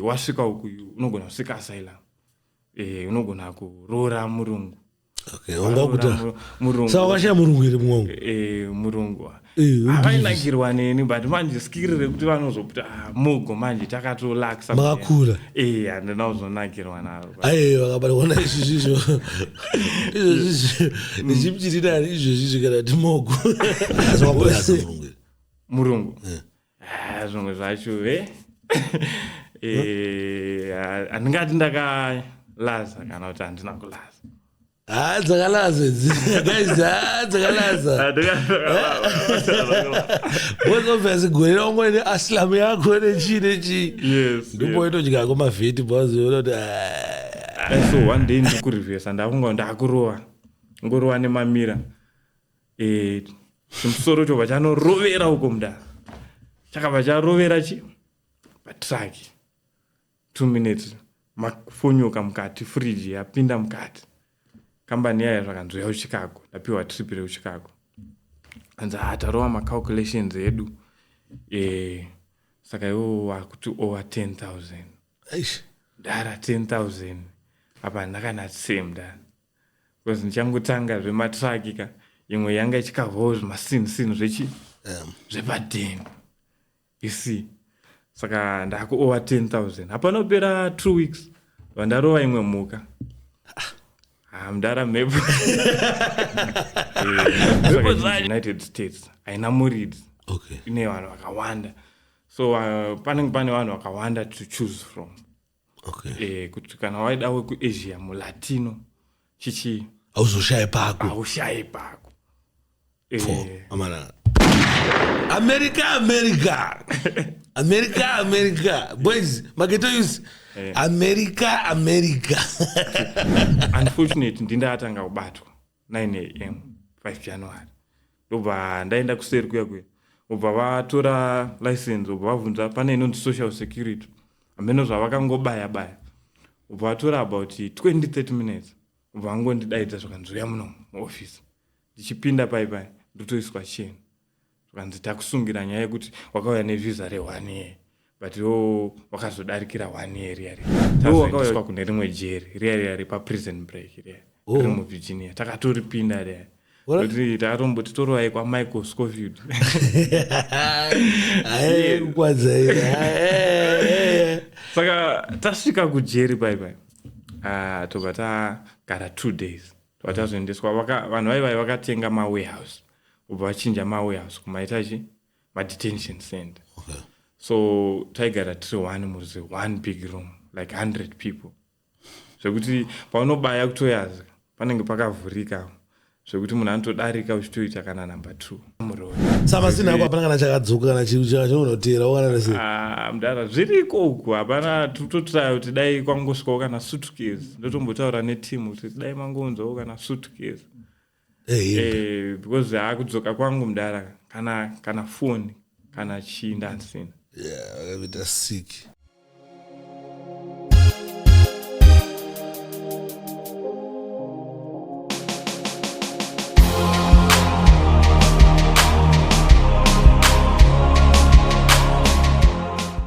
wasvika uku unogona kusvika asylum e, unogona kuroora murungu okay, murungu here mumwe e, murungu ah. havainakirwa neni but manje skiri rekuti vanozopta ah, mugo manje takatolaksa makakura e handina kuzonakirwa naro aye vakabaona izvizvizvo izvozvizvo ndichimchitidani mm. izvozvizvo kana ti mugo murungu eh. ah, zvimwe zvacho e eh? eh, handingati ndakalaza kana kuti handina kulaza Ah, dzakalaza idzi. Guys, ah, dzakalaza. Both of us gore raungo ne aslam yako ne chi ne chi. Yes. Ndipo yes. itodya ko mavheti boss unoti. Ah. Eh, so one day ndikurivesa ndakunga ndakurova. Ngorova ne mamira. Eh, chimusoro chobva chanorovera uko mudara. Chakabva charovera chi? Patraki. two minutes makufonyoka mukati fridge yapinda mukati kambani yaya zvakanzi uya kuchicago ndapiwa trip rekuchicago anzi ha ah, tarova macalculations edu e, saka iwo wakuti over ten thousand dara ten thousand apa ndakana same da bcause ndichangotanga zvematraki ka imwe yanga ichikavhawo zvimasinsin zvechi zvepadeni you see saka ndakuowa 10000 hapana kupera two weeks vandarova imwe mhuka Ah, mdara mhepo Mhepo dzacho. united states haina muridzi okay ine vanhu vakawanda so uh, panenge pane vanhu vakawanda to choose from okay. e, kuti kana waida wekuasia mulatino chichii hauzoshaye pako haushaye pako e, amana america america america america boys maketo use america america unfortunate ndindatanga kubatwa 9 am 5 january ndobva ndaenda kuseri kuya kuya obva vatora license obva vabvunza pane inonzi social security hameno zvavakangobaya baya obva vatora about 2030 minutes obva vangondidaidza zvakanzouya muno muoffice ndichipinda pai pai ndotoiswa cheni zvikanzi takusungira nyaya yekuti wakauya nevhiza re-one year but wo wakazodarikira one year riya riya tazoendeswa kune rimwe jeri riya riya repaprison break riya oh. riri muvirginia takatoripinda riya kuti takatomboti torovai kwamichael scofield saka tasvika kujeri pai pai ah, tobva tagara two days tobva tazoendeswa vanhu vaivai vakatenga mawarehouse kubva vachinja mawarehouse kumaita chi madetention center okay. so taigara tiri one murzi one big room like 100 people zvekuti paunobaya kutoyaza panenge pakavhurika zvekuti munhu anotodarika uchitoita kana number two samasina ako hapana kana chakadzoka kana chinonoteera wakanarese ah, mdara zviriko uku hapana tototraya kuti dai kwangosvikawo kana sutkes ndotombotaura neteam kuti dai mangonzwawo kana sutkes hey, eh, eh, because akudzoka kwangu mdara kana kana foni kana chii ndandisina yeah, akavita siki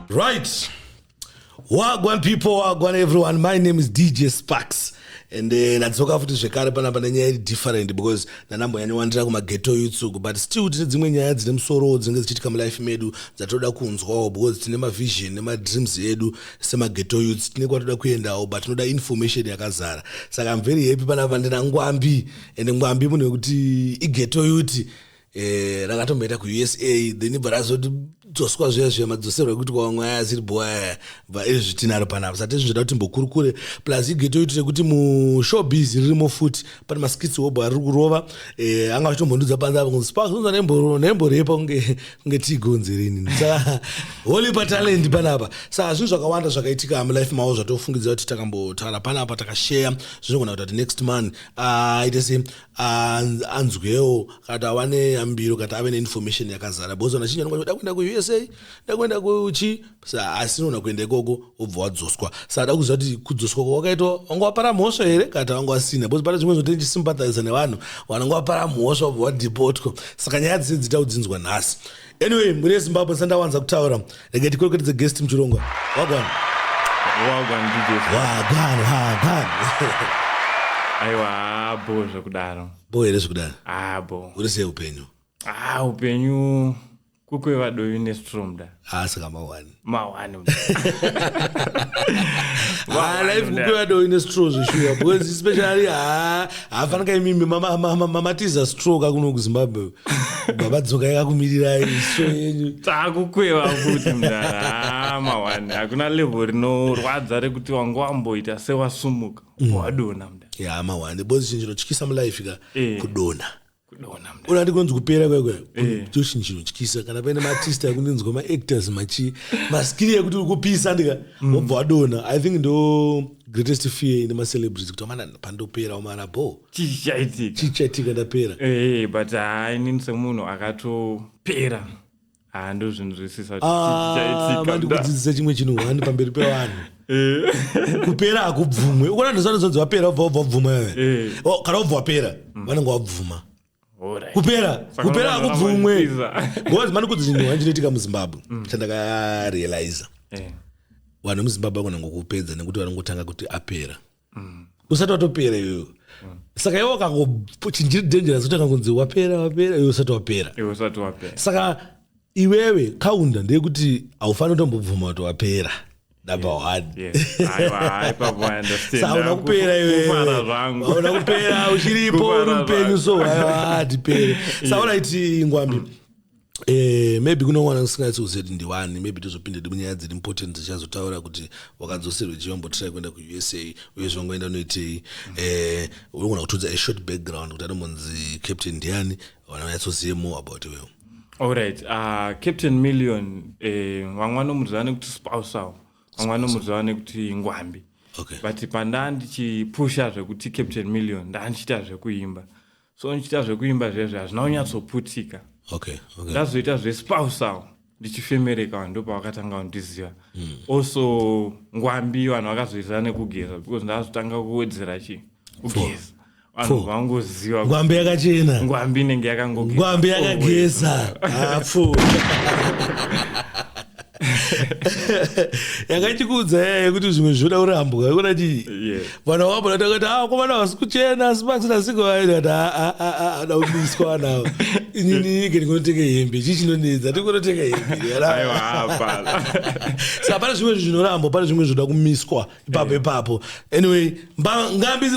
right wagwan people wagwan everyone my name is dj sparks and eh, nadzoka futi zvekare panapa nenyaya iri different because ndanambonyanyowandira kumageto yutsuku but still tine dzimwe nyaya dzine musorowo dzinenge dzichiitika mulife medu dzatoda kunzwawo because tine mavision nemadreams edu semageto yuts tine kwatoda kuendawo but tinoda information yakazara saka mveri hepi panapa ndinangwambi and ngwambi munhu wekuti igeto yuti eh, rakatomboenda kuusa then ibva razoti dzoswa zviya zviya madzoserwa ekuti kwavamwe aya asiri bho aya bva izvi tinaro panapa sati zvinzoda kuti mbokurukure plus igeto itire kuti mushow busy ririmo futi pane maskits wobho ari kurova eh, anga vachitombondudza panze apa kunzi sparks unza nemborepa kunge kunge tigonzerini saka holy patalent panapa saka zvinhu zvakawanda zvakaitika mulife mavo zvatofungidzira kuti takambotaura panapa takasheya zvinogona kuita kuti next month aite ah, se anzwewo kana kuti ava neyambiro kana kuti ave neinformation yakazara because vanhu vachinji vanoda kuenda kuusa da kuenda kuchi sa asi unogona kuenda ikoko wobva wadzoswa sa da kuziva kuti kudzoswa kwawakaitwa vanga wapara mhosva here kana kuti vanga wasina because pane zvimwe zvote ndichisympathiza nevanhu vananga wapara mhosva wobva wadipotwa saka nyaya dzese dzita kudzinzwa nhasi anyway mhuri yezimbabwe sandawanza kutaura rege tikwerekedze guest muchirongwa wagwana wagwana wagwana aiwa abo zvekudaro bo here zvekudaro abo uri sei upenyu ah upenyu kukwevadovi nestromda ah saka mawani mahwani Ah, life kupiwa do ine straw zveshuwa because especially ha hafanika imimi mama- mama- mamatiza straw kakuno kuzimbabwe baba dzokai kakumirirai straw yenyu takukweva futi mdara Ah, mahwani hakuna level rinorwadza rekuti wanga wamboita sewasumuka wadona mdara ya mahwani because chinhu chinotyisa mulife ka Eh. kudona ona ndikonzi kupera kwaikwayo eh. joshin chinotyisa kana paine maartist akundinzwa maactors machi maskiri yekuti uri kupisa ndika mm. wobva wadona i think ndo greatest fear ine macelebrity kuti amana pandopera omana bo chichaitika ndapera eh, eh, but hainini semunhu akatopera Ah, ah, mandikudzidzisa chimwe chinhu wani pamberi pevanhu eh. kupera hakubvumwe ukona ndozanozonzi vapera ubva ubva ubvuma iwe eh. oh, kana ubva wapera mm. vanenge wabvuma kupera kupera hakubvumwe bcause mandikudzi chinhu wani chinoitika muzimbabwe mm. chandakarealiza eh. vanhu vemuzimbabwe vanonangokupedza nekuti vanongotanga kuti apera mm. usati watopera iyoyo mm. saka iwe wakangochinjiri dangerous kutanga kunzi wapera wapera iwe usati wapera iwe usati wapera saka iwewe kaunda ndeyekuti haufaniri kutombobvuma kuti wapera number one sauna kupera iweauna kupera uchiripo uri mupenyu so haiwa hatipere sauna iti ngwambi mm. Eh, maybe kune mwana ndisingaitsi kuziva kuti ndiwani maybe tozopinda ndi munyaya dziri important dzichazotaura kuti wakadzoserwe chiva mbotrai kuenda kuusa uye zvangoenda unoitei eh, unogona kutudza a short background kuti anombonzi captain ndiani vana vanyatsozive more about iwewo allright uh, ah, captain million eh, vamwe vanomuziva nekuti spousawo vamwe vanomuziva nekuti ngwambi okay. but pandaa ndichipusha zvekuti captain million ndaa ndichiita zvekuimba so ndichiita zvekuimba zvezve hazvina kunyatsoputika okay, okay. ndazoita zvespousal ndichifemereka ndo pavakatanga kundiziva mm. also ngwambi vanhu vakazoizira nekugeza because ndazotanga kuwedzera chii kugeza vanhu vangoziva ngwambi yakachena ngwambi inenge yakangogezangwambi yakageza hapfu yanga ichikuudza yaya yekuti zvimwe zvoda kurambwa yekuda chii vana wabo natakati a ah, komana vasi kuchena asi pakusina siko vaidati ah, ah, ada kubiswa vanawo inini ke ndikunotenga hembe chii chinonedza tikunotenga hembesaa pane zvimwe zvinorambwa pane zvimwe zvoda kumiswa ipapo ipapo anyway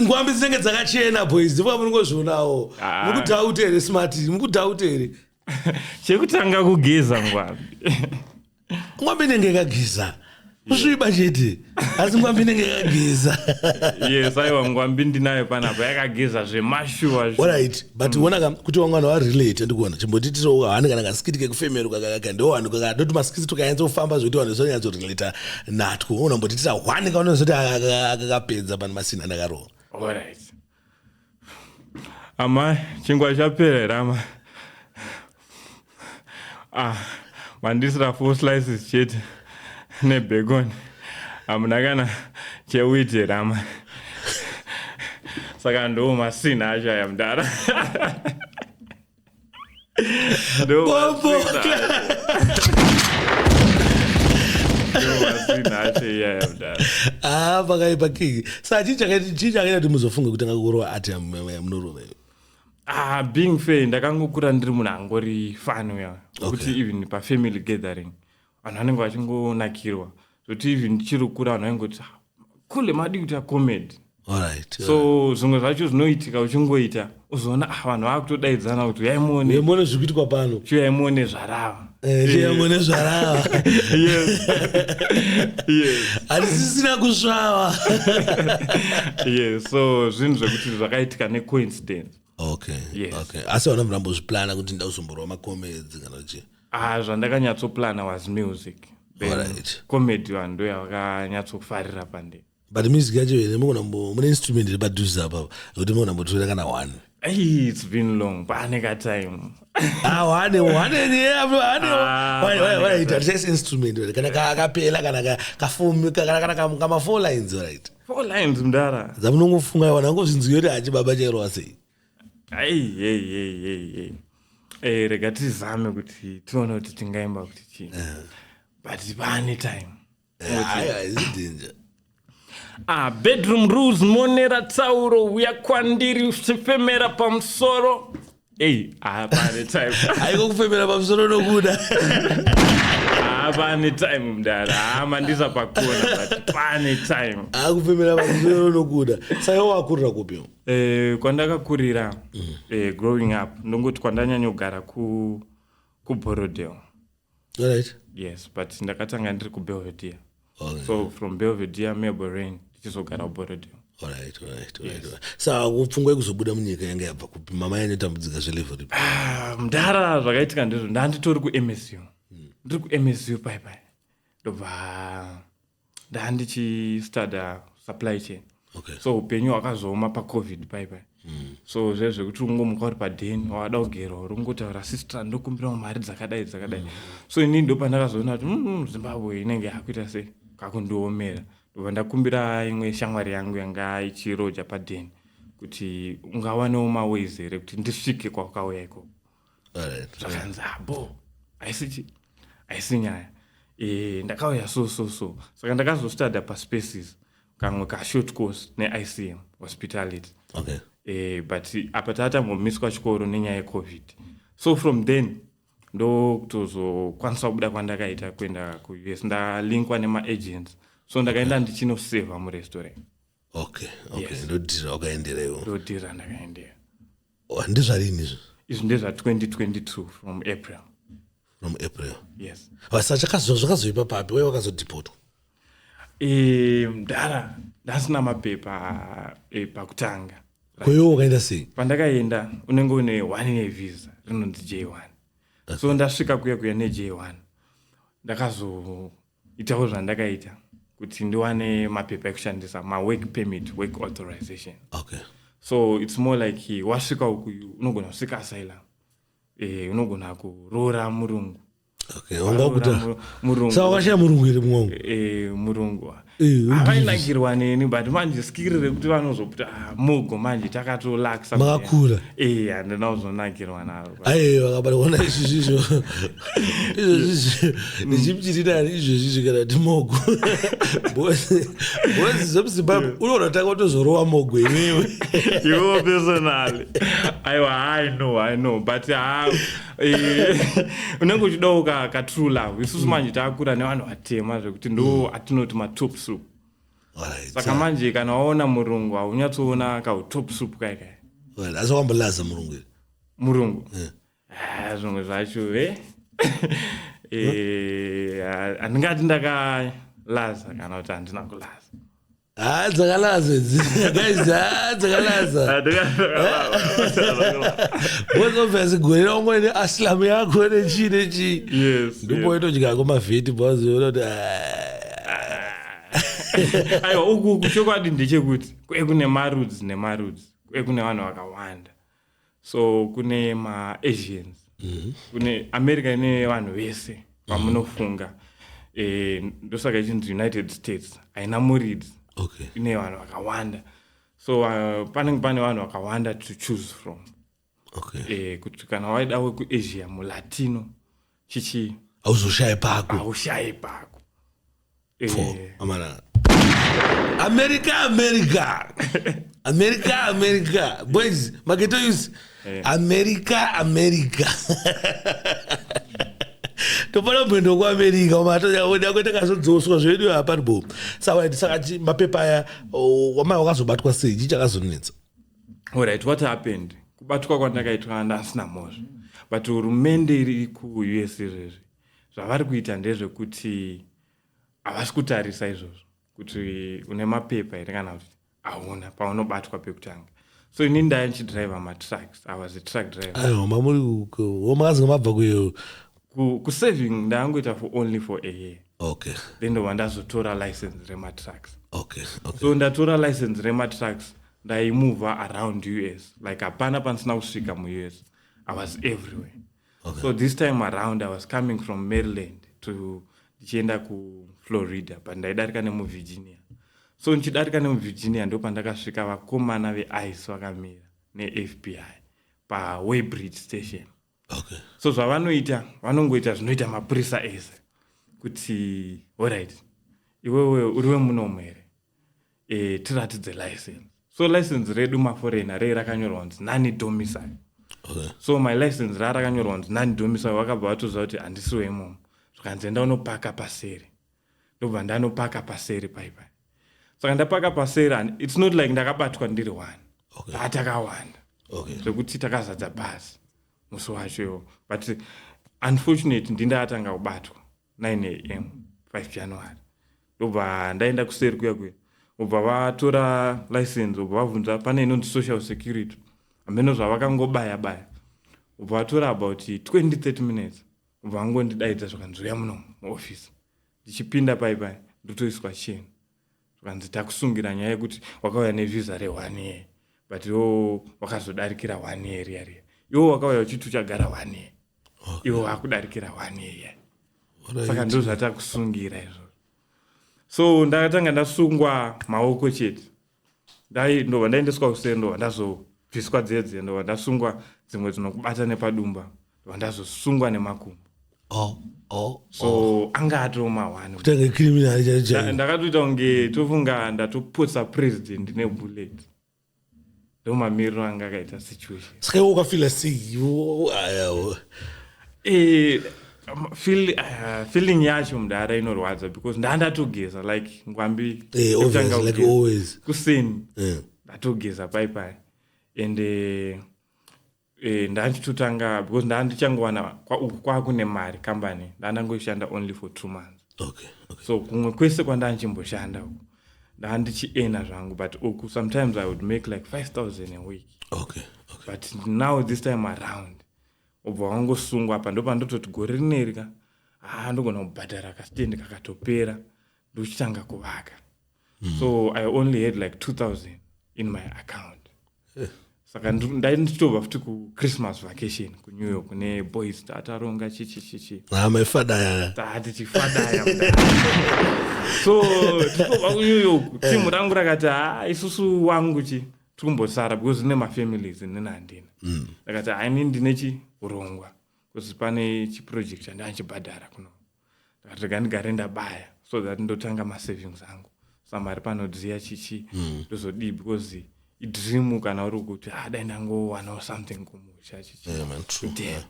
ngwambi dzinenge dzakachena boys ndipo amunongozvionawo mukudhauta here smart mukudhauta here chekutanga kugeza ngwambi ngwambi inenge ikageza kusviba chete asi ngwambi inenge yakageza yes aiwa ngwambi ndinayo panapa yakageza zvemashuwa orit but mm. onaka kuti wanga wana warelate ndikuona chimbotitiso hane kana kasikiti kekufemero kakaka ndo wanhu kakadoti masikiti tukanyatsa kufamba zvokuti wanhu zvanyatso relata natwo unambotitisa hwane kaunozoti akakapedza pano masina ndakarowa orit Amai, chingwa chapera here amai? Ah, mandisira four slices chete nebacon. Hamuna kana chewheat here amai? Saka ndo masina acho aya mdara. No, Bombo ah pakaipa kiki sa chii chakaita kuti muzofunga kuti angakurowa ati munorova iyo ah being fair ndakangokura ndiri munhu angori fani uya kuti even pafamily gathering vanhu vanenge vachingonakirwa zvekuti even ndichiri kukura vanhu vaingoti ah, kule madi kuita comedy Alright, so zvimwe zvacho zvinoitika uchingoita uzoona ah, vanhu vakutodaidzana kuti uyai muone yemone zviri kuitwa pano chiuyai muone zvarava Eh, yemone zvarava Yes. Yes. hatisisina kusvava Yes. so zvinhu zvekuti zvakaitika necoincidence okay Yes. okay asi hauna murambozviplana kuti ndauzomborowa makomedzi kana kuti Ah, zvandakanyatsoplana was music. Then Alright. comedy vanhu ndo yavakanyatsofarira pande. but music yacho here mukonambo mune instrument iri padhuze apa yekuti mukonambotora kana one Hey, it's been long. Pane ka time. Ah, one one yeah, bro, one Ah, Why- why- why one. it are just instrument right? kana ka- kapela kana ka- kafomu ka- kana kana kam- kama four lines right Four lines mdara. dzamunongofunga wanangozvinzwira achibaba chairova sei Hey, hey, hey, hey, hey. Hey, eh, rega tizame kuti tione kuti tingaimba kuti chii eh. but pane time eh, ah, bedroom rules monera tsauro uya kwandiri uchifemera pamusoro ei ah, pane time aiko kufemera pamusoro nokuda ah, pane time mdara amandisa pakona but pane time akufemera pamusoro nokuda saka wakurira kupi Eh, kwandakakurira mm. eh, growing up ndongoti kwandanyanyogara ku kuborodel right. yes but ndakatanga ndiri kubelvedere okay. so from belvedere melborain ndichizogara kuborodel sakupfungwa yekuzobuda munyika yanga yabva kupi mama yanotambudzika zvelevo ripi ah, mdara zvakaitika ndizvo ndanditori kumsu hmm. ndiri kumsu paipai ndobva ndandichistuda supply chain okay. so upenyu hwakazooma pacovid paipai mm. so zve zvekuti ungomuka uri paden wada kugerwa uri kungotaura sister ndokumbirawo mari dzakadai dzakadai mm. so inini ndopandakazoona kuti mm, mm, zimbabwe inenge yakuita sei kakundiomera ndobva ndakumbira imwe shamwari yangu yanga ichiroja paden kuti ungawanewo maways here kuti ndisvike kwakauya ikoko zvakanzi abo ah, haisi chi haisi nyaya eh, ndakauya so so so saka ndakazostadha paspaces kamwe kashort course neicm hospitality okay. eh, but apa taatambomiswa chikoro nenyaya yecovid so from then ndokutozokwanisa kubuda kwandakaita kuenda kuus ndalinkwa nemaagents so ndakaenda ndichinoseva murestaurant okay okay Yes. ndodhira wakaendera iwo ndodhira ndakaendera Oh, ndezvarini izvo izvi ndezva 2022 from april from april yes basa chakazo- zvakazoipa papi wai wakazodhipotwa Eh, mdara ndasina mapepa eh, pakutanga koiwo wakaenda sei pandakaenda unenge une one year visa rinonzi j1 so ndasvika kuya kuya ne j1 ndakazo itawo zvandakaita kuti ndiwane mapepa ekushandisa mawork permit work authorization okay. so its more like wasvika uku unogona kusvika asylum eh, unogona kuroora murungu saakashaya murungu here mwangu eh, murungu avainakirwa eh, neni but manje skiri rekuti vanozoputa ah, mugo manje takatolaksa makakura eh, handina kuzonakirwa naro aye vakabaona izvizvizvo izvozvizvo ndichimchirinani izvozvizvo kana ti mogo bozi zvemuzimbabwe unoona taka utozorowa mogo iwewe iwewo personally aiwa i know i know but ha eh, unenge uchidawo ka, ka true love isusu mm. manje takura nevanhu vatema zvekuti ndo mm. atinoti matop soup saka manje kana waona murungu haunyatsoona kautop soup kaikai asi wambolaza murungu iri murungu eh. ah, zvimwe zvacho e handingati ndakalaza kana kuti handina kulaza ha dzakalaza dzakalaza bcause obviously gore raungo ine aslamu yako nechii nechii ndipo itodyako mavheti bcause ona kuti aiwa uku chokwadi ndechekuti kune marudzi nemarudzi kune vanhu vakawanda so kune maasians mm -hmm. kune america ine vanhu vese vamunofunga mm -hmm. e, eh, ndosaka ichinzi united states haina murids okay. ine vanhu vakawanda so uh, panenge pane vanhu vakawanda to choose from okay. e, kuti kana waida wekuasia mulatino chichii hauzoshaye pako haushaye pako Pfo, Eh, amana america america america america boys maketo yus america america topana mwendo kuamerica umatoda kuita kazodzoswa zvedu hapari bo saka saka chi- mapepa aya oh, wamai wakazobatwa sei chii chakazonetsa alright what happened kubatwa kwandakaitwa anda asina mhozvo but hurumende iri kuus izvezvi zvavari kuita ndezvekuti havasi kutarisa izvozvo kuti une mapepa here kana kuti hauna paunobatwa pekutanga so ini ndaya ndichidriver matrucks i was a truck driverwamakazinga mabva kuyo kusaving ndaangoita for only for a year okay then ndobva ndazotora license rematrucks okay, okay. so ndatora license rematrucks ndaimova around us like hapana pandisina kusvika muus i was everywhere okay. so this time around i was coming from maryland to ndichienda kuflorida but ndaidarika nemuvirginia so ndichidarika nemuvirginia ndo pandakasvika vakomana veice vakamira nefbi pawaybridge station okay. so zvavanoita vanongoita zvinoita mapurisa ese kuti orit iwewe uri wemunomu here e, tiratidze license so license redu maforena rei rakanyorwa kunzi nani domisai okay. so my license raa rakanyorwa kunzi nani domisai vakabva vatoziva kuti handisi weimomo zvikanzi enda unopaka paseri ndobva ndanopaka paseri paipai saka ndapaka paseri and its not like ndakabatwa ndiri one okay. atakawanda okay. zvekuti takazadza bhazi musi wacho iwo but unfortunate ndindaatanga kubatwa 9 am 5 january ndobva ndaenda kuseri kuya kuya obva vatora license obva vabvunza pane inonzi social security hameno zvavakangobaya baya obva vatora about 20 30 minutes vangondidaidza zvakanzi uya muno muofisi ndichipinda pai pai ndotoiswa cheni zvakanzi takusungira nyaya yekuti wakauya nevhiza rehwani yee but yo wakazodarikira one year riya riya iwo wakauya uchiti uchagara one year okay. iwo wakudarikira one year right. saka ndo zvatakusungira izvozvo so ndakatanga ndasungwa maoko chete dai ndova ndaendeswa usere ndova ndazobviswa dzedze ndova ndasungwa dzimwe dzinokubata nepadumba ndova ndazosungwa nemakumbo oh, oh, so oh. anga atoo mahwanindakatoita kunge tofunga ndatopotsa president nebullet ndomamiriro anga akaita situation saka iwo ukafila sei Um, feel, uh, feeling yacho mdara inorwadza because ndandatogeza like ngwambi eh, kuseni eh. ndatogeza pai pai and uh, eh, ndanditotanga because ndandichangowana kwauku kwakune mari kambani ndandangoishanda only for two months okay, okay. so kumwe kwese kwandanchimboshanda uku ndandichiena zvangu but uku sometimes i would make like 5000 a week okay, okay. but now this time around obva wangosungwa apa ndopandototi gore rineri ka haa ndogona kubhadhara kasitendi kakatopera ndochitanga kuvaka mm. so i only had like 2000 in my account eh. saka ndai ndichitobva futi kuchristmas vacation kunew york kune boys taataronga chichichichi amefadaya taati chifadaya so tichitobva kunew york eh. timu rangu rakati haa isusu wangu chi tikumbosara because ine mafamilies inini handina mm. ndakati haini ndine chirongwa because pane chiproject chandanchibhadhara kuno ndakati rega ndigare ndabaya so that ndotanga masavings angu samari panodziya chichi mm. ndozodii mm. because idream kana uri kuti adai ah, ndangowanawo something kumusha chichi yeah, man, true, yeah.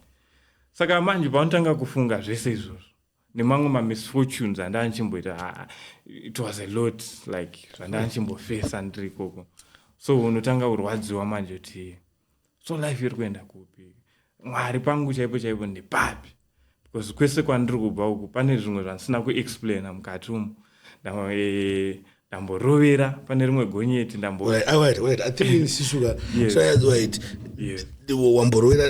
saka manje paunotanga kufunga zvese izvozvo nemamwe mamisfortunes andanchimboita ah, it was a lot like zvandanchimbofesa ndiri ikoko so unotanga kurwadziwa manje kuti so life iri kuenda kupi mwari pangu chaipo chaipo ndepapi because kwese kwandiri kubva uku pane zvimwe zvandisina kuexplaina mukati umu eh, ndamborovera pane rimwe gonyeti ndambowamborovera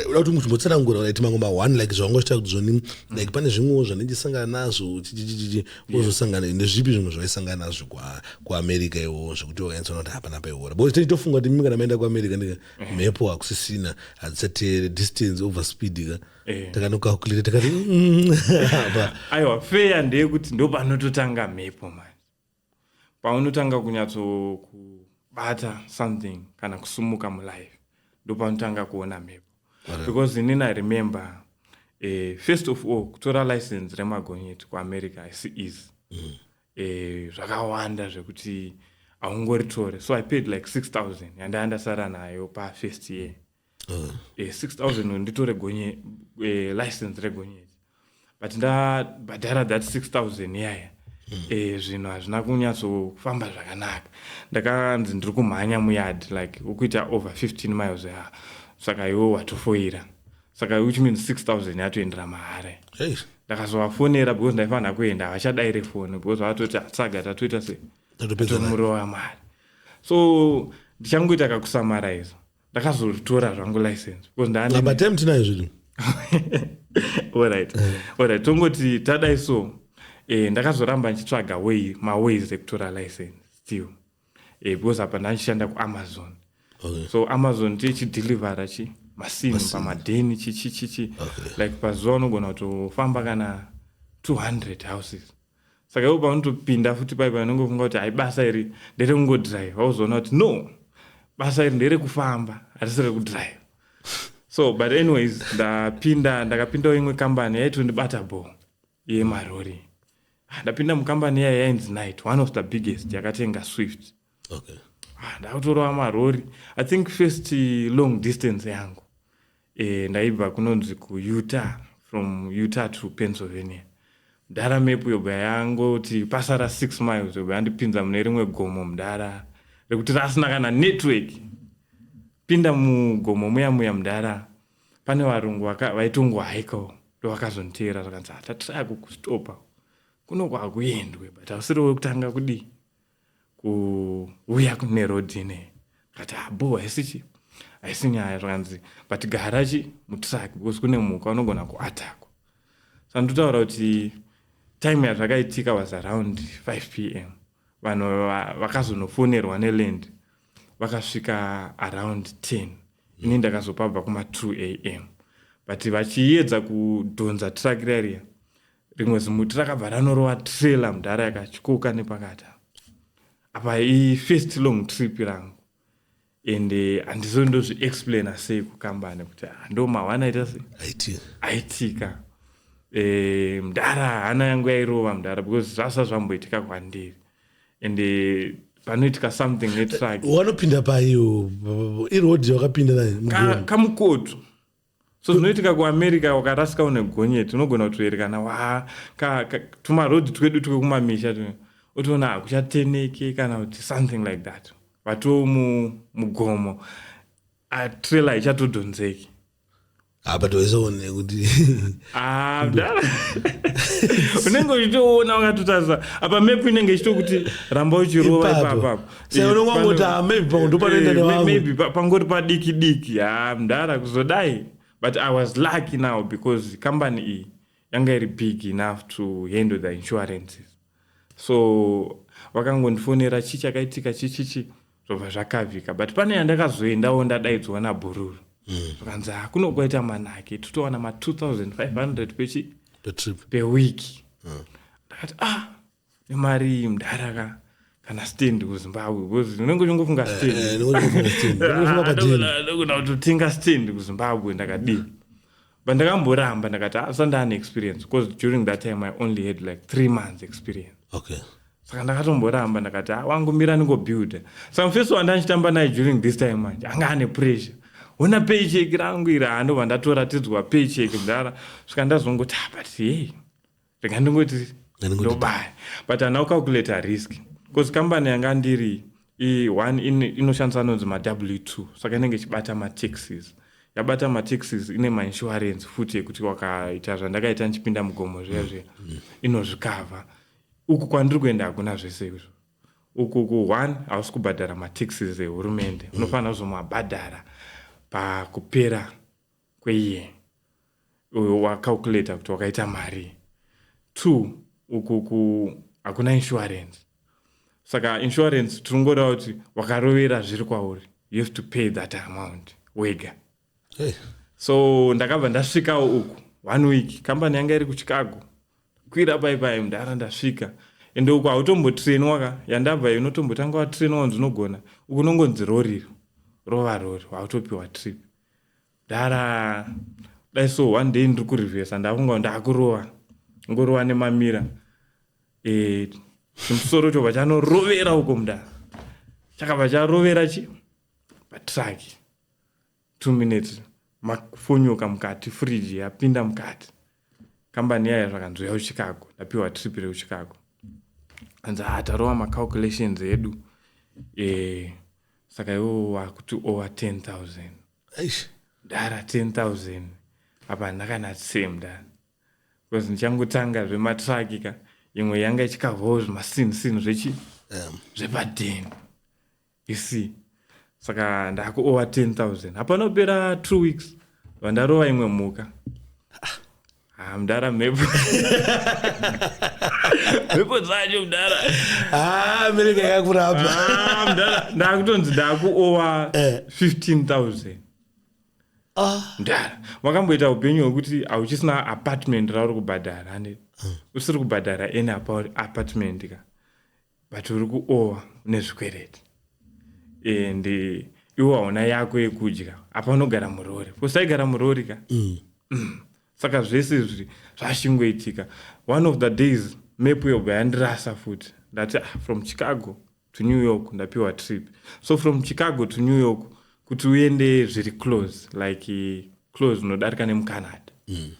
uda kuti muchimbotsanangura right mango ma one like zvawanga uchita kuti zvoni mm. like pane zvimwewo zvandichasangana nazvo chichichichi wozosangana nezvipi zvimwe zvaisangana nazvo kuamerica iwo zvekuti wakanyatsona kuti hapana paihora but titofunga kuti mimi kana maenda kuamerica ndika eh. mhepo hakusisina hadzisateere distance over speed ka eh. takanokakulita takati mm, aiwa feya ndeyekuti ndopanototanga mhepo mani paunotanga kunyatsokubata something kana kusumuka mulife ndopaunotanga kuona mhepo because inini i remember eh, first of all kutora license remagonyeti kuamerica haisi easy mm. eh, zvakawanda zvekuti haungoritore so i paid like 6000 yandaya ndasara nayo pafirst year uh. eh, 6000 nditore gonye eh, license regonyeti but ndabhadhara that 6000 yaya mm. eh, zvinhu hazvina kunyatsofamba zvakanaka ndakanzi ndiri kumhanya muyard like ukuita over 15 miles ya ah, saka iwo watofoira saka which means 6000 yatoendera mahare hey. ndakazovafonera because ndaifanira kuenda havachadaire foni because vatoti ah, saga tatoita se tomurova mari so ndichangoita kakusamaraiza ndakazotora zvangu license because ndane laba time tinayo zvedu alright eh. alright tongoti tadai so eh, ndakazoramba ndichitsvaga way maways ekutora license still eh, because apa ndandichishanda kuamazon okay. so amazon ndiye chidhilivhara chi masim pamadheni chichichichi okay. like pazuva unogona kutofamba kana 200 houses saka ivo paunotopinda futi pai panongofunga kuti hai basa iri nderekungodriva uzoona kuti no basa iri nderekufamba harisi rekudriva so but anyways ndapinda ndakapindawo imwe kambani yaitondibata bo yemarori ah, ndapinda mukambani yaya yainzi night one of the biggest yakatenga swift okay ah, ndakutorova marori i think first long distance yangu e, ndaibva kunonzi kuutah from utah to pennsylvania mdara mepu yobva yangoti pasara six miles yobva yandipinza mune rimwe gomo mdara rekuti rasina kana network pinda mugomo muya muya mdara pane varungu vaitongohaikawo ndovakazonditeera zvakanzi hatatiraya ah, kukustopa kuno kwakuendwe but ausiri wekutanga kudii kuuya kune road ine kati abo ah, haisichi haisi nyaya zvakanzi but gara chi mutruck because kune muka unogona kuatakwa so ndinotaura kuti time yazvakaitika was around 5 p m vanhu vakazonofonerwa neland vakasvika around 10 ini ndakazopabva kuma 2 a m but vachiedza kudhonza truck rariya rimwe zimuti rakabva ranorova trailer mudhara yakatyoka nepakati apa ifirst long trip rangu and eh, handizo ndozviexplaina sei kukambani kuti ah, ndo mahwana aita sei aiti aitika eh, mdara hana yangu yairova mdara because zvasa zvamboitika kwandiri and eh, panoitika something netruck wanopinda payo iroad yakapinda naye Ka- mugoni. kamukoto so zvinoitika kuamerica wakarasika une gonyeti unogona kutoerekana wa tumarodi twedu twekumamisha tu otoona hakuchateneke kana kuti something like that vatoo mugomo atrela ichatodhonzeki apa toisaone kuti ah, unenge uchitoona wakatotarisa apa mepu inenge ichitokuti ramba uchirova ipapapa Saka unenge wangoti, ah, maybe pamwe ndopanoenda Eh, may- nevamwe. maybe pa- pangori padiki diki ha mdara kuzodai but i was lucky now because company iyi yanga iri big enough to handle the insurances so vakangondifonera chii chakaitika chichichi zvobva zvakavika but pane yandakazoendawo ndadaidzwa nabhururu zvakanzi "Ah, kuno kwaita manake totowana ma 2500 pechi petrip pewiki ndakati ah nemari mudhara ka kana stand kuzimbabwe because unenge uchingofunga standndokuda kutotenga stand kuzimbabwe ndakadii but ndakamboramba ndakati asa ah, ndaane experience because during that time i only had like three months experience okay saka ndakatomboramba ndakati ah, wangu mira ndingobuilda saka mufesi wanda ndichitamba naye during this time manje anga ane pressure hona paycheck rangu iri handova ndatoratidzwa paycheck mdara svika ndazongoti ah, but hey rega ndongoti ndobaya but hana kucalculata risk bcause kambani yanga ndiri one inoshandisa anonzi maw two saka inenge ichibata mataxis yabata mataxis ine mainsurance futi yekuti wakaita zvandakaita ndichipinda mugomo zviya zviya mm, mm. inozvikavha uku kwandiri kuenda hakuna zvese izvo uku ku one hausi kubhadhara mataxis ehurumende mm. unofanira kuzomabhadhara pakupera kweiye uyo wacalculator kuti wakaita mari two ukuku hakuna insurance saka insurance tinongoreva kuti wakarovera zviri kwauri you have to pay that amount wega hey. so ndakabva ndasvikawo uku one week kambani yanga iri kuchicago kwira pai pai mudhara ndasvika ende uku hautombotrainwa ka yandabva unotombotanga watrainwa kunzi unogona uku unongonzi roriro rova rori hautopiwa trip dara dai so one day ndiri kurivhesa ndakunga ndakurova ngorova nemamira eh, chimusoro chobva chanorovera uko mudara chakabva charovera chi patraki two minutes mafonyoka mukati fridge yapinda mukati kambani yaya zvakanzwa yauchicago ndapiwa trip reuchicago anzi ha ah, tarova macalculations edu e, saka iwo wakuti over 10000 dara 10000 apa hana kana same dara bcause ndichangotanga zvematraki ka imwe yanga ichikavawo zvimasinsin zvechi zvepadeni you see saka ndakuowa 10000 hapana kupera two weeks vandarova imwe mhuka Ah, mdara mhepo mhepo dzacho mdara Ah, mereka yakakurapa Ah, mdara ndakutonzi ndakuowa Eh. 15000 Ah, mdara wakamboita upenyu hwekuti hauchisina apartment rauri kubhadhara ane usiri kubhadhara any apa- apartment ka but uri kuowa une zvikwereti and eh, iwo hauna yako yekudya apa unogara murori kusaigara murori ka mm. Mm. saka zvese izvi zvashingoitika one of the days mepu yobva yandirasa futi ndati ah, from chicago to new york ndapiwa trip so from chicago to new york kuti uende zviri close like eh, close unodarika nemucanada mm.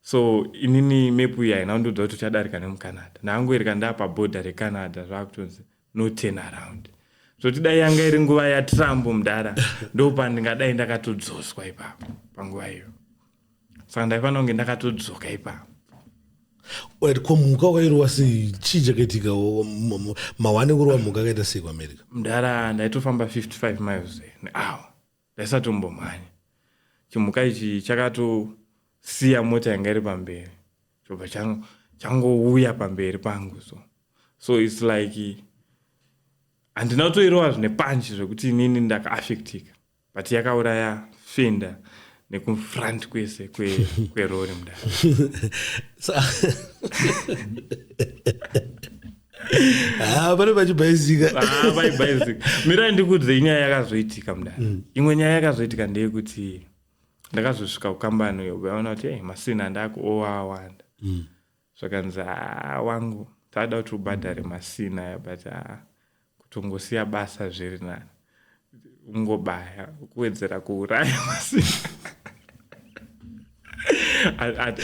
So inini map iyi haina kundiudza kuti uchadarika nemucanada. Ndakangoereka ndaapaborder recanada zvaakutonzi no turn around. Zvoti dai yanga iri nguva yatrump mudhara ndopandingadai ndakatodzoswa ipapo panguva iyo. Saka ndaifanira kunge ndakatodzoka ipapo. Right, ko mhuka wakairova sei chii chakaitika mawane kurova mhuka akaita sei kuamerica mdara ndaitofamba 55 miles nehour Ndaisatombomhanya. Chimhuka ichi chakatosiya mota yanga iri pamberi chobva changouya pamberi pangu so so its like handina kutoirova zvine panchi zvekuti inini ndakaaffectika but yakauraya fenda nekufront kwese kwerori kwe mudara Ah, pane vachibhaizika ah, vaibhaizika mirai ndikuudze inyaya yakazoitika mudara mm. imwe nyaya yakazoitika ndeyekuti ndakazosvika kukambani uyo vaona kuti hey, masina ndako owawanda mm. zvakanzi ah, wangu taada kuti ubhadhare masina aya but ah, kutongosiya basa zviri nani ungobaya kuwedzera kuuraya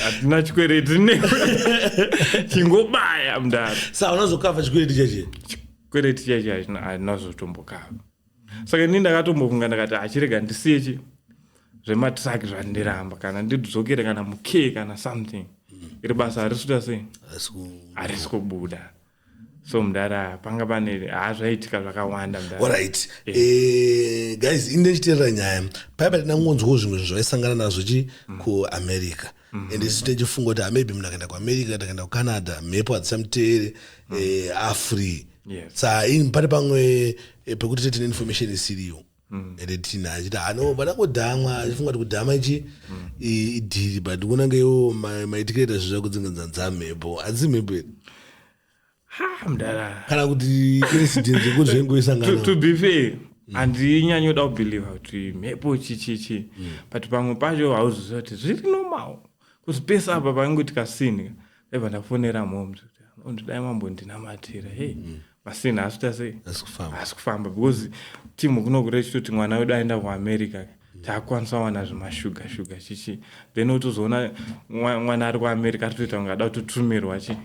hatina chikwereti ne chingobaya mdara sa unazokava chikwereti chache chikwereti chache hainazotombokava saka ini ndakatombofunga ndakati achirega ndisiye chi zvematraki zvandiramba kana ndidzokere kana muke kana something iri basa harisuta sei harisi kubuda so mdara panga pane haa zvaiitika zvakawanda mdara Alright. Yeah. Eh, guys ini ndichiteerera nyaya paya pati ndangonzwawo zvimwe zvinhu zvaisangana nazvo chi kuamerica and isu tichifunga kuti maybe munhu akaenda kuamerica kana akaenda kucanada mhepo hadzisamuteere eh, afree Yes. sa ini pari pamwe eh, pekuti tete neinformation isiriyo mm. ende tina achiti hano pada kudhamwa achifunga kuti kudhama ichi mm. idhiri but kuona ngeiwo maitikire ta zvezva kudzinganza nza mhepo hadzisi mhepo here mdara kana kuti incident yekuti zvengoisangana to be fair mm. handinyanyoda kubheliva kuti mhepo chichichi mm. but pamwe pacho hauziziva kuti zviri normal kuti pese apa panenge kuti kasinhi ndaiva ndafonera mom kuti dai mambondinamatira hey mm. pasina asi kuita sei asi kufamba because timu kunokure ichitoti mwana wedu aenda kuamerica takwanisa wana zvemashuga shuga chichi then otozoona mwana ari kuamerica atotoita kunge ada kutotumirwa chi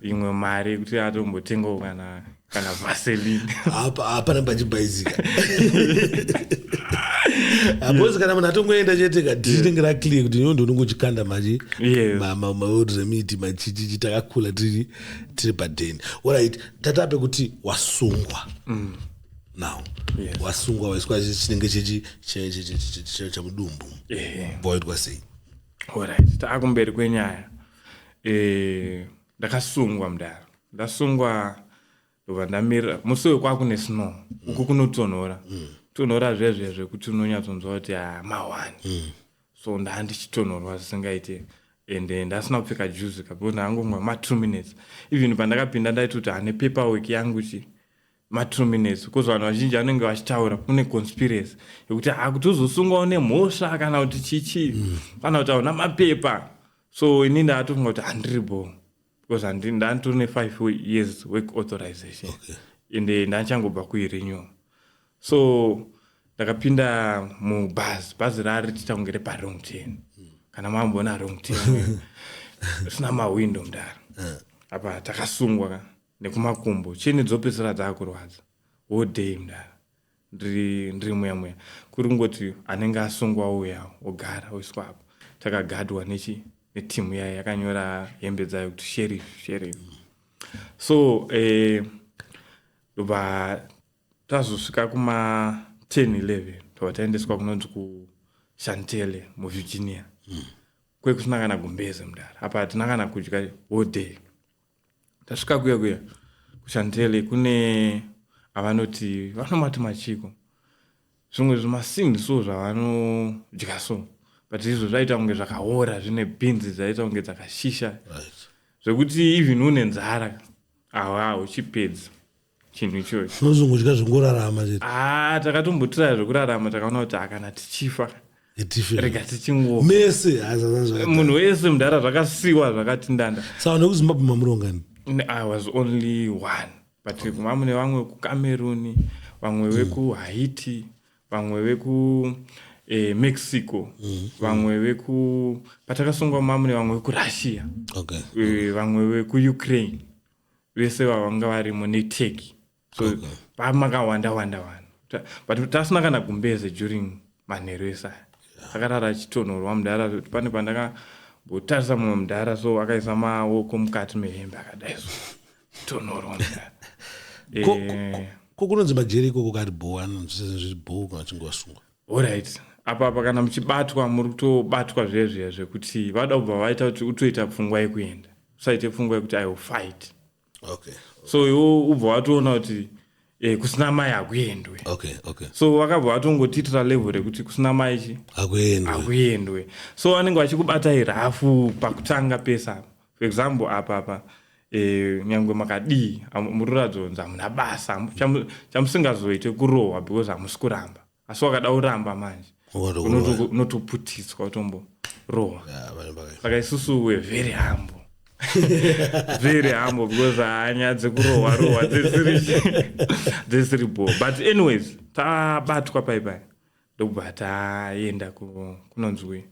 imwe mari kuti atombotengawo kana kana vaseline hapana pachibhaizika because kana munhu atongoenda chete ka tinenge raclear kuti nyondo unongochikanda machi maoruzemiti machichichi takakula tiri tiri padeni orit tatape kuti wasungwa mm. now wasungwa waiswa chinenge chechi chamudumbu boitwa sei orit taakumberi kwenyaya eh, ndakasungwa mdara ndasungwa ndobva ndamira musi uyo kwakune snow uku kunotonhora tonhora zvezve zvekuti unonyatsonzwa kuti ah, mahwani mm. so ndaa ndichitonhorwa zvisingaite and eh, ndasina kupfeka juzi kabona angomwa ma two minutes even pandakapinda ndaitoti ane paper work yangu chi ma two minutes because vanhu vazhinji vanenge vachitaura kune conspiracy yekuti ha kuti uzosungwawo nemhosva kana kuti chichi mm. kana kuti hauna mapepa so ini ndatofunga kuti handiri bo because ndanditori nefive years work authorization okay. ende eh, ndachangobva kuirenew so ndakapinda mubhazi bhazi rari titange reparong ten mm. kana mamboona rong ten sina mawindo mdara eh. apa takasungwa ka nekumakumbo chini dzopedzisira dzakurwadza wodei mdara ndiri ndiri muya muya kuri kungoti anenge asungwa ouya ogara oiswa apo takagadwa nechi netimu yayo yakanyora hembe dzayo kuti sherif sherif so eh, ndobva eh, tazosvika kuma 10 11 tobva taendeswa kunonzi kushantele muvirginia mm. kwekusina kana gumbeze mudara apa hatina kana kudya whole day tasvika kuya kuya kuchantele kune avanoti vanomati machiko zvimwe zvimasini so zvavanodya so but izvo zvaita kunge zvakaora zvine bhinzi zvaita kunge dzakashisha zvekuti even une nzara awa uchipedza chinhu ichoyo tinozongodya zvongorarama chete ah takatombotiraya zvekurarama takaona kuti akana tichifa itife rega tichingofa mese hazazazva munhu wese mudhara zvakasiwa zvakati ndanda saka nekuzimbabwe mamurongani N- i was only one but mamune vamwe kucameroon vamwe vekuhaiti vamwe veku eh, mexico vamwe veku patakasungwa mamune vamwe vekurussia okay Eh, vamwe vekuukraine vese vavanga varimo neteki so okay. pamakawanda wanda vanhu but tasina kana gumbeze during manheru ese aya akarara achitonhorwa mudhara pane pandakambotarisa mumwe mudhara so akaisa maoko mukati mehembe akadai so tonhorwa mudhara eh. ko kunonzi majeri ikoko kari bho anonzi sezviri bho kana chinge wasungwa Horaiti apa apa kana muchibatwa muri kutobatwa zvezviya zvekuti vada kubva vaita kuti utoita pfungwa yekuenda usaite pfungwa yekuti i will fight okay. so iwo ubva watoona kuti eh, kusina mai hakuendwe okay, okay. so vakabva vatongotitira level rekuti kusina mai chi hakuendwe so vanenge vachikubatai rafu pakutanga pese apa For example apa apa eh, nyangwe makadii am- muri kuratidza kunzi hamuna basa hamu- chamu- chamusingazoite kurohwa because hamusi kuramba asi wakada kuramba manje Unoto- unoto- unotoputidzwa utomborohwa Ah, vanhu vaka- saka isusu we very humble very humble because hanya dzekurohwa rohwa dzisiri dzisiri bo but anyways tabatwa pai pai ndokubva taenda kunonzwi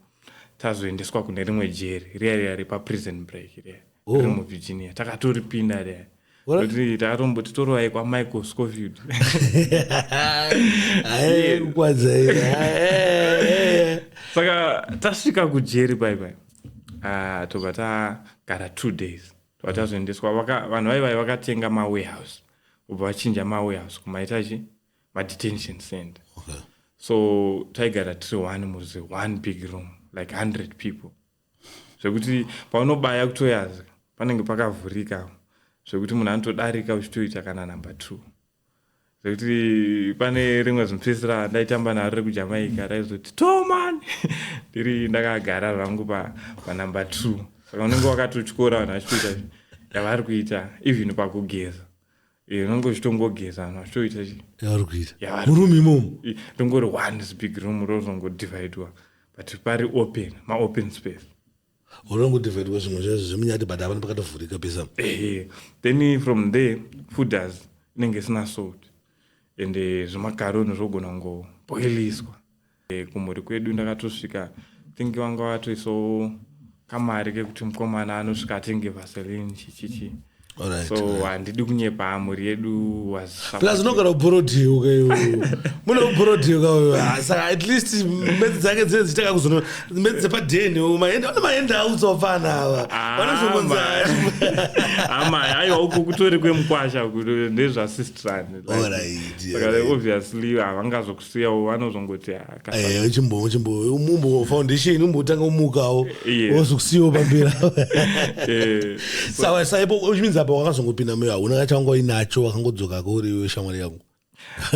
tazoendeswa kune rimwe jeri riya riya repaprison break riya oh. riri muvirginia takatoripinda riya kuti takatomboti torovai kwamichael scofield saka tasvika kujeri pai pai ah, tobva tagara two days tobva tazoendeswa vanhu vaivai vakatenga mawarehouse ubva vachinja mawarehouse kumaita chii madetention center okay. so taigara tiri one muzi one big room like 100 people zvekuti paunobaya kutoyaza panenge pakavhurika zvekuti munhu anotodarika uchitoita kana number two zvekuti pane rimwe zimupesera ndaitamba naro rekujamaica raizoti toman ndiri ndakagara zvangu panumber two saka unenge wakatotyora vanhu vachitoita yavari kuita even pakugeza Eh, unenge uchitongogeza vanhu vachitoita chi yavari kuita Yavari- murume imomo i- ndongori one is big room rozongodivhaidwa but pari open maopen space unongodivhaidwa zvimwe zvaizvo zvemunyati but havana pakatovhurika pesa ehe then from there food has inenge isina salt and eh, zvimakaroni zvogona kungoboiliswa eh, kumhuri kwedu ndakatosvika think vanga vatoisawo kamari kekuti mukomana anosvika atenge vaseline chichichi so handidi kunyepa mhuri yedu plus unogara uborodhiyo kayo mune uborodhiyo kayo saka at least mbedzi dzake dzine dzichitanga kuzono mbedzi dzepadheni maenda vane maenda audza vapfana ava ah, vanozongonza ama aiwa uko kutori kwemukwasha ndezvasistrani obviously havangazoku siyawo vanozongoti akachimbomumbo foundation umbotanga umukawo wozokusiyawo pamberi eh, sawa saipo which means apa wakazongopinda moyo hauna kachanga uinacho wakangodzoka kauriwe shamwari yangu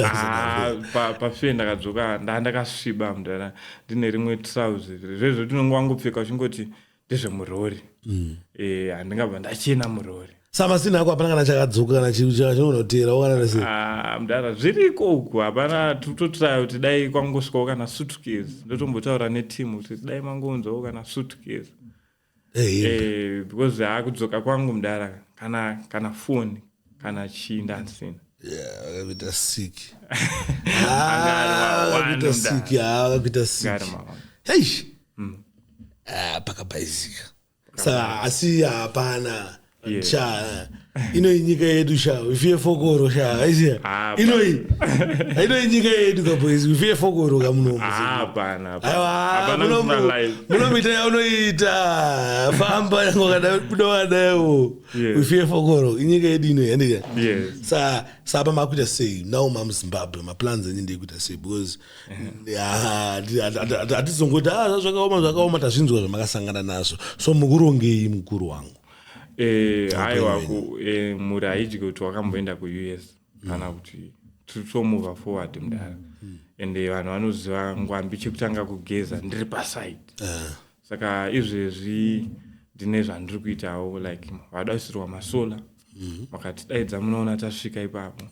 ah, pafee ndakadzoka ndaa ndakasviba mudhara ndine rimwe trouse zvezvo tinonge wangopfeka uchingoti ndezvemurori mm. eh, handingabva ndachena murori samasina ako hapana kana chakadzoka kana chinonoteera okanarese ah, mdara zviriko uku hapana tototraya kuti dai kwangosvikawo kana sutkes ndotombotaura netimu kuti dai mangonzwawo kana sutkes eh, eh, because akudzoka kwangu mdara kana kana foni kana chii ndansina akakuita sick akakuita sick akakuita sick eish mm. ah, pakabhaizika saka asi hapana sha inoi nyika yedu sha ifiye fokoro sha aiziya ah, inoi inoi nyika yedu kabhoizi ifiye fokoro kamunomunomuita yaunoita famba yangu kadabuda wadaiwo yes. we fear fokoro inyika yedu ino yandika yes. sa sapa makuita sei now mam zimbabwe maplans enyu ndeikuita sei because hatizongoti ah, ah, zvakaoma zvakaoma tazvinzwa zvamakasangana nazvo so mukurongei mukuru wangu eh, haiwa eh, mhuri haidyi kuti wakamboenda kuus mm. kana kuti titomuva forward mudara mm. and eh, vanhu vanoziva ngwambi chekutanga kugeza ndiri paside ah. saka izvezvi ndine zvandiri kuitawo like vadasirwa masolar mhm. makatidaidza munoona tasvika ipapo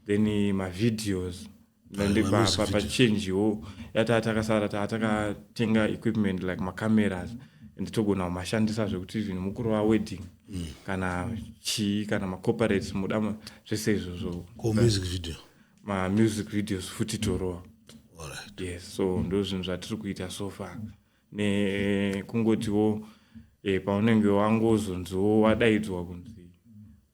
then mavideos ndipapachenjiwo yataa takasara taa takatenga equipment like macameras and togona kumashandisa zvekuti even mukuru wawedding mm. kana chii kana macooperates muda zvese izvozvo mamusic videos futi torowa yes so ndo zvinhu zvatiri kuita so far nekungotiwo e, paunenge wangozonziwo wadaidzwa kunzi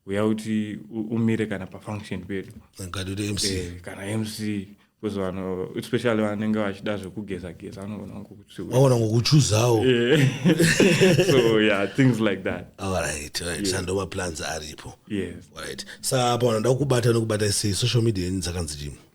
uya kuti umire kana pafunction pedu eh, kana mc bcause vanhu especially vanenge vachida zvekugeza geza anogona ngokuaona ngokuchuzawo eh. so yeah things like that alright right yeah. sando maplans aripo yes right sa apa vanoda kukubata nokubata sei social media yenyu dzakanzi chii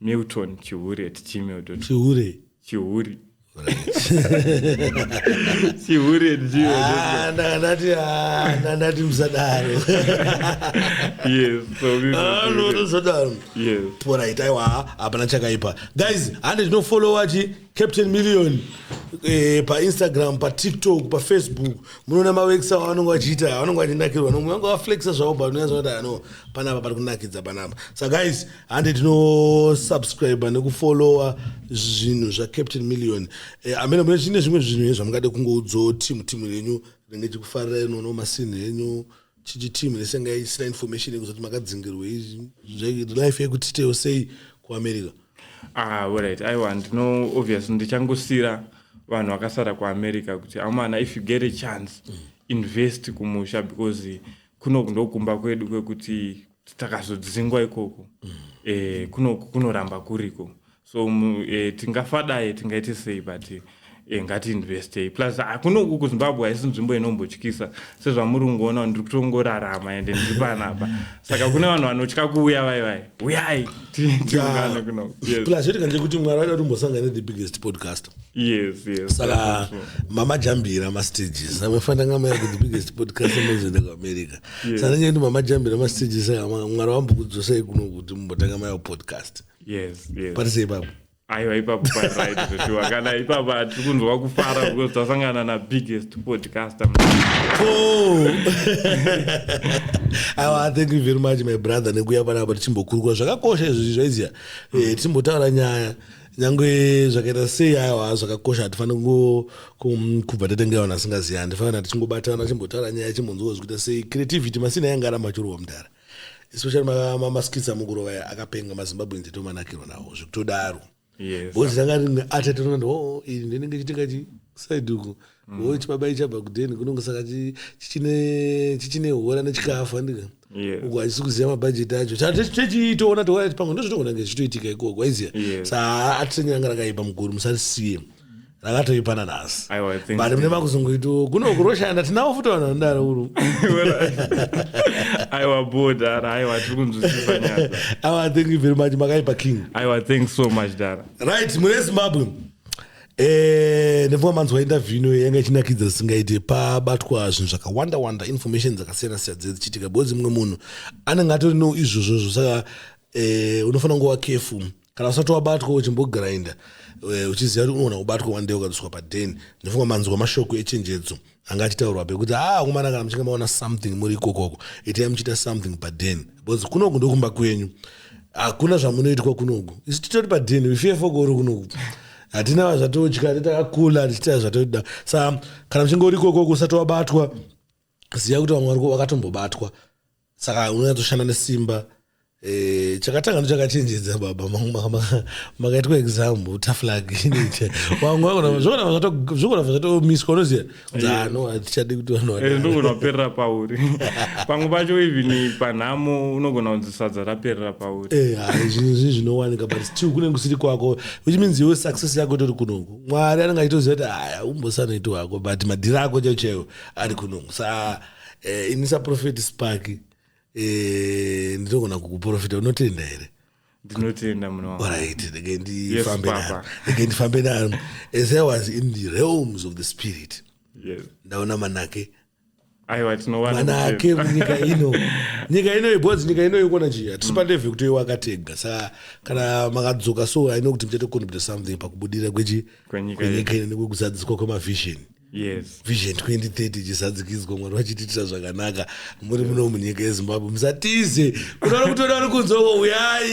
milton chihure at gmail chihure chihure chihure ah, ndati ah, ndati musadaro yesnotosadaro porait aiwa hapana chakaipa guys hande ndinofollowa chi captain million eh, painstagram patiktok pafacebook munoona mawekisa avanonge vachiita avanonge vachinakirwa nomwe vanga vaflexa zvavo but unoyazonati ano panapa pari kunakidza panapa sa guys hande tinosubscribe nekufollowa zvinhu zvacaptain million eh, amene mune chine zvimwe zvinhu he zvamungade kungoudzawo timu timu renyu rinenge chikufarirai nono masini henyu chichi timu resenga isina information yekuzoti makadzingirwei life yekutitewo sei kuamerica ah, right aiwa ndino obvious ndichangosira vanhu vakasara kuamerica kuti amana if you get a chance mm. invest kumusha because kuno ndokumba kwedu kwekuti takazodzingwa ikoko mm. e, kuno, kunoramba kuriko so um, e, tingafadai tingaite sei but e, ngatiinvestei plus hakuno uku kuzimbabwe haisi nzvimbo inombotyisa sezvamuri kungoona ndiri kutongorarama ende ndiri panapa saka kune vanhu vanotya kuuya vai vai uyai tiungane kuno plus zvotikanje kuti mwari vaida kuti umbosangane the biggest podcast Yes, yes. Saka mama jambira ma stages. Amefana ngama yake the biggest podcast amazoenda ku America. Yes. Saka ngendi mama jambira ma stages saka mwari wambo kudzosai kuno kuti mumbotanga mayo podcast. Yes, yes. Parise ipapo. aiwa ipapo paright zveshuwa kana ipapa tiri kunzwa kufara because tasangana na biggest podcaster oh. aiwa thank you very much my brother nekuya panapa tichimbokurukura zvakakosha izvozvi zvaiziya eh, tichimbotaura nyaya nyangwe zvakaita sei aiwa zvakakosha hatifaniri kubva tatengera vanhu asingaziva handifanira tichingobatana chimbotaura nyaya chimbonzwa zvikuita sei creativity masina yanga aramba achirohwa mudhara especially mamaskits amugurova aya akapenga mazimbabwe nze tomanakirwa nawo zvekutodaro bhozi ranga rine atatinoona oh, iri ndinenge chitenga chi side uku mm. wo chibaba ichabva kudeni kunonge saka chichine hora nechikafu handika yes. uko hachisi kuziva mabhajeti acho techiitoona toona pamwe ndozvitogona nge zvichitoitika ikoko waiziva yes. saa atisenge ranga rakaipa muguru musarisiye mm rakatoipana nhasi but mune makuzungu itu kuno kuroshanda tinavo futi vanhu vanodaro uru aiwa bo dara aiwa tiri kunzwisisa nyaya aiwa thank you very much makaipa king aiwa thanks so much dara right mune zimbabwe Eh, ndinofamba manzwa interview ino yanga ichinakidza zisingaite pabatwa zvinhu zvakawanda wanda information dzakasiyana siyana dzinenge dzichiitika because mumwe munhu anenge atori no izvozvozvo saka eh, unofanira kunge wakefu kana usati wabatwa uchimbogrinda eh, uchiziva kuti unogona kubatwa one day ukadzoswa paden ndinofunga manzwa mashoko echenjedzo anga achitaurwa pekuti a ah, akomana kana muchinge maona something muri ikokoko itai muchiita something paden because kunoku ndokumba kwenyu hakuna zvamunoitwa kunoku isu titori paden ifefoko uri kunoku hatina vazvatotya titakakula tichitaa zvatoda sa kana muchinge uri ikokoko usati wabatwa ziva kuti vamwe variko vakatombobatwa saka unonyatsoshanda nesimba Eh, chakatanga ndo chakachenjedza baba makaitwa exam taflag zvokurava zvatomiswa unoziva dzano hatichadi kuti vanonogona eh, kuperera pauri pamwe pacho even panhamo unogona kunzi sadza raperera pauri eh, zvinhu zvinhu zvinowanika but still kune kusiri kwako which means iwe success yako itori kunoku mwari anenge achitoziva kuti aya umbosanoiti wako but madhiri ako chaiwo chaiwo ari kunoku saa eh, ini saprofeti spaki eh, ndinogona kukuprofita unotenda here ndinotenda munorit ndege ndifambe naro ndege ndifambe naro as i was in the realms of the spirit yes. ndaona manake aiwa tinowana manake nyika ino nyika ino yebhozi nyika ino yokona chii hatisi mm. pandeve kuti wakatega saka kana makadzoka so i know kuti muchatocontribute something pakubudira kwechi kwenyika ino nekwekuzadziswa kwemavision yes vision 2030 ichisadzikidzwa mwari vachitiitira zvakanaka muri muno munyika yezimbabwe musatize kuna vari kutoda vari kunzoko uyai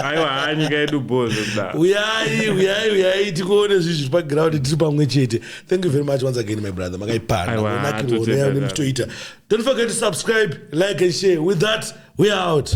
aiwa haa nyika yedu bozo kuda uyai uyai uyai tikuone zvinhu zviri paground tiri pamwe chete thank you very much once again my brother makaipana Aiwa, kunakirwa totenda unoya zvavo. nemutoita don't forget to subscribe like and share with that we are out